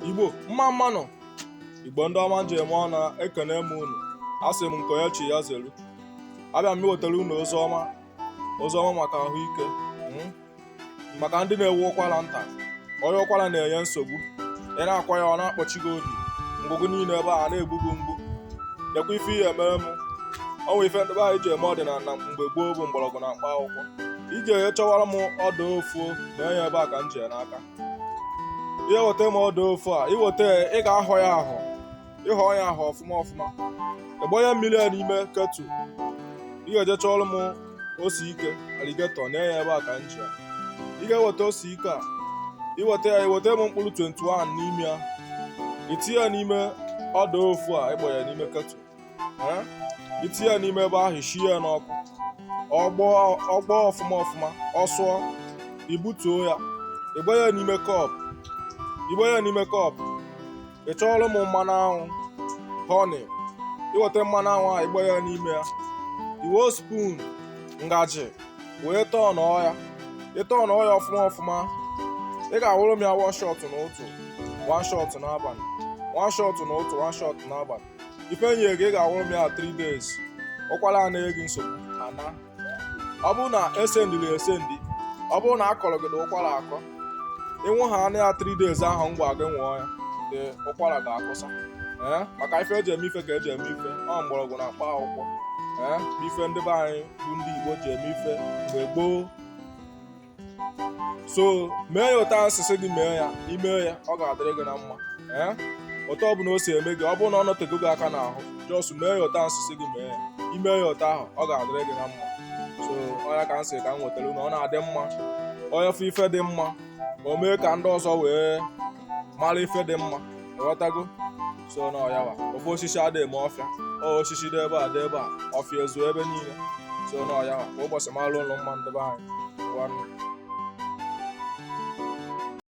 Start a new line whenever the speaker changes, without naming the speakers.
igbo mma mma nụ igbo ndị ọma m ji eme ọnụ ekene m unu asị m nke onye chi ya zelu abịa m iwetara unu ozi ọma ozi ọma maka ahụike hmm? maka ndị na-enwe ụkwara nta onye ụkwara na-enye nsogbu ị na-akwa ya ọ na-akpọchi gị obi ngụgụ niile ebe a na-egbu gị mgbu lekwa ife ị ya-emere m o nwee ife ndị be anyị ji eme ọdịnala mgbe gboo bụ mgbọrọgwụ na mkpa akwụkwọ i jee chọwara m ọdụ ofu nee ya ebe a ka m ji n'aka ị ya-eweta m ọdụ ofu a iweta ya ị ga-ahọ ya ahọ ịhọ ya ahọ ọfụma ọfụma ịgbanye mmiri a n'ime ketu ị ga-eje chọọrọ m ose ike aligetọ nee ya ebe a ka m ji ya ị ga-eweta ose ike a iweta ya iweta m mkpụrụ 21 n'ime ya itinye ya n'ime ọdụ ofu a ịgbanye n'ime ketu itinye ya n'ime ebe ahụ shie ya n'ọkụ ọ gbọọ ọfụma ọfụma ọ sụọ ibutuo ya ịgbaa ya n'ime kọpụ ịgbaa ya n'ime kọpụ ị chọọrọ m mmanụ anwụ honey iweta mmanụ anwụ ahụ ịgbaa ya n'ime ya iwe spoon ngaji wee tọnọọ ya ịtọnọọ ya ọfụma ọfụma ị ga-anwụrụ m ya one shot n'ụtụtụ one shot n'abalị one shot n'ụtụtụ one shot n'abalị ife nyere gị ị ga-anwụrụ m ya 3 days ụkwara a na-enye gị nsogbu ana ọ bụrụ na e sendiri esendi ọ bụrụ na a kọrọ gị the ụkwara akọ ịnwụhaa nụ ya 3 days ahụ m gwa gị nwụọ ya the ụkwara ga-akwụsị ee maka ife eji eme ife ka eji eme ife ọ mgbọrọgwụ na mkpa akwụkwọ ee ife ndị be anyị bụ ndị Igbo ji eme ife mgbe gboo so mee ya otu a m si sị gị mee ya imee ya ọ ga-adịrị gị na mma ee otu ọ bụla o si eme gị ọ bụrụ na ọ nọtego gị aka n'ahụ jọs mee ya otu a m si sị gị mee ya imee ya otu ahụ ọ ga-adịrị gị na mma so ọ ya ka m sị ka m wetara unu ọ na-adị mma onye fụ ife dị mma o mee ka ndị ọzọ wee mara ife dị mma ị ghọtago so na ọyawa ofu osisi adịghị eme ọfịa ọ osisi dị ebe a dị ebe a ọfịa ezuo ebe niile so na ọyawa kwa ụbọchị mara unu mma ndị be anyị